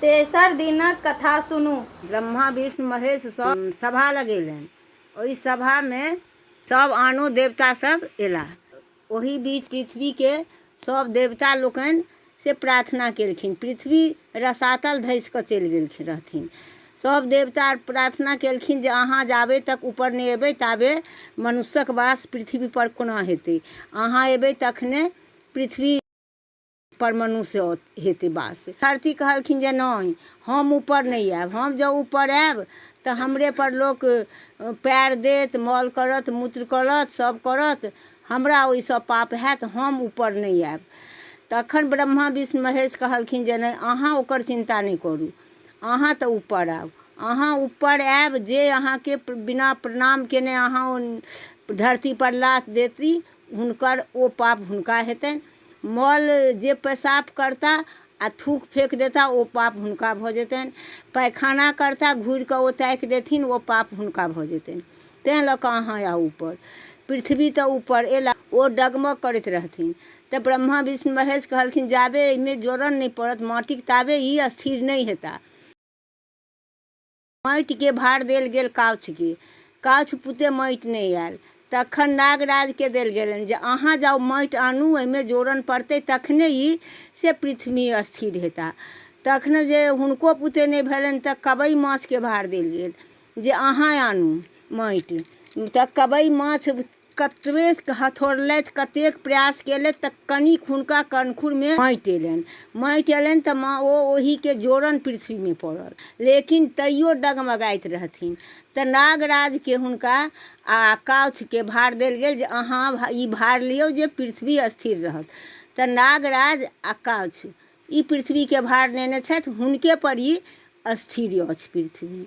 तेसर दिनक कथा सुनू ब्रह्मा विष्णु महेश सब सभा लगेलनि ओहि सभामे सब आनो देवता सब एला ओहि बीच पृथ्वी के सब देवता लोकनि से प्रार्थना केलखिन पृथ्वी रसातल धसि कऽ चलि गेलखिन रहथिन सब देवता प्रार्थना केलखिन जे अहाँ जाबे तक ऊपर नहि एबै ताबे मनुष्यक वास पृथ्वी पर कोना हेतै अहाँ एबै तखने पृथ्वी पर मनुष्य हेतै बास धरती कहलखिन जे नहि हम ऊपर नहि आयब हम जँ ऊपर आयब तऽ हमरे पर लोक पैर देत मल करत मूत्र करत सब करत हमरा ओहिसँ पाप हैत हम ऊपर नहि आयब तखन ब्रह्मा विष्णु महेश कहलखिन जे नहि अहाँ ओकर चिन्ता नहि करू अहाँ तऽ ऊपर आउ अहाँ ऊपर आयब जे अहाँके बिना प्रणाम केने अहाँ धरती पर लात देती हुनकर ओ पाप हुनका हेतनि मल जे पेशाब करता आ थूक फेंक देता ओ पाप हुनका भऽ जेतनि पैखाना करता घूर कऽ ओ ताकि देथिन ओ पाप हुनका भऽ जेतनि तैं लऽ कऽ अहाँ आउ ऊपर पृथ्वी तऽ ऊपर एला ओ डगमग करैत रहथिन तऽ ब्रह्मा विष्णु महेश कहलखिन जाबे एहिमे जोड़न नहि पड़त माटिक ताबे ई स्थिर नहि हेता माटिके भार देल गेल काछुके काछु पुते माटि नहि आयल तखन नागराजके देल गेलनि जे अहाँ जाउ माटि आनू ओहिमे जोड़न पड़तै तखने ई से पृथ्वी स्थिर हेता तखन जे हुनको पुते नहि भेलनि तऽ कबई माछके भार देल गेल जे अहाँ आनू माटि तऽ कबई माछ कतबेक हथोड़लथि कतेक प्रयास केलथि तऽ कनिक हुनका कनखुरमे माटि अयलनि माटि अयलनि तऽ माँ ओ ओहिके जोड़न पृथ्वीमे पड़ल लेकिन तैयो डगमगाइत रहथिन तऽ नागराजके हुनका आ काउछके भार देल गेल जे अहाँ ई भार लियौ जे पृथ्वी स्थिर रहत तऽ नागराज आ काउछ ई पृथ्वीके भार नेने छथि हुनके पर ई स्थिर अछि पृथ्वी